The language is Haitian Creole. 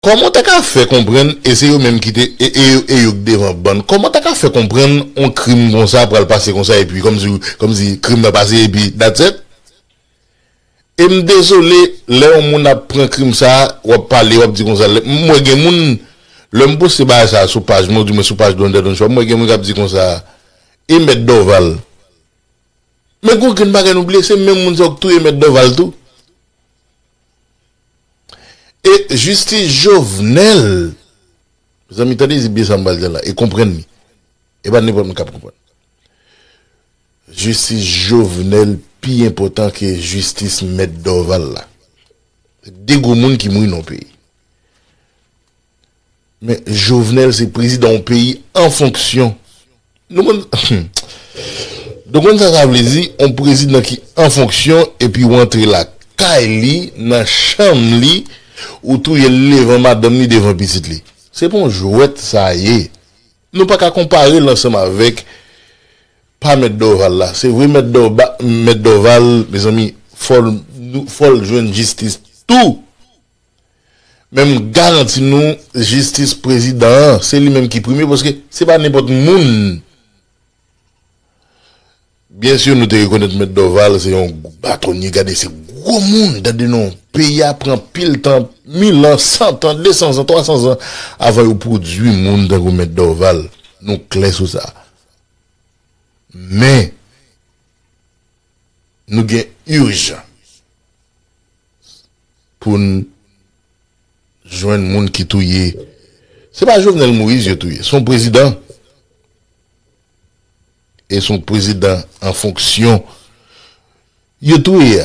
Kòman w ta ka fè konprann e se yo menm ki te e yo k devan bann kòman w ta ka fè konprann on krim konsa pral pase konsa epi kòmsi kòmsi krim nan pase epi that's et e m dezole lè yon moun ap pran krim sa w ap pale w ap di konsa lè m wè gen moun lè m poste bagay sa sou paj mwen ou di mwen sou paj Donda Don Choix m wè gen moun k ap di konsa e mèt Dòval men gon grenn bagay nou bliye se menm moun sa yo k touye mèt Dòval tou. E jistis Jovenel, mezanmi tande byen sa m pral di la e konprann li, e pa nenpòt moun k ap konprann li. Jistis Jovenel pi enpòtan ke jistis mèt Dorval la. Se 2 gwo moun ki mouri nan yon peyi. Men jovenel se prezidan yon peyi an fonksyon nou konn nou konn sa sa vle di yon prezidan ki an fonksyon epi ou antre la kay li nan chanm li ou touye l devan madanm li devan pitit li se pa yon jwèt sa ye nou pa ka konpare l ansanm avèk pa mèt dorval la se vre mèt mèt dorval mezanmi fò l fò l jwenn jistis tou. Men m garanti nou jistis prezidan an se li menm ki prime paske se pa nenpòt moun Byen si nou te rekonèt mèt Dòval se yon batonye gade se gwo moun gade non peyi a pran pil tan mil an san tan de san zan twa san zan avan yo pwodui moun tankou mèt Dòval nou klè sou sa men. Nou gen urgent poun jwenn moun ki touye se pa Jovenel Moïse yo touye son prezidan e son prezidan an fonksyon yo touye a.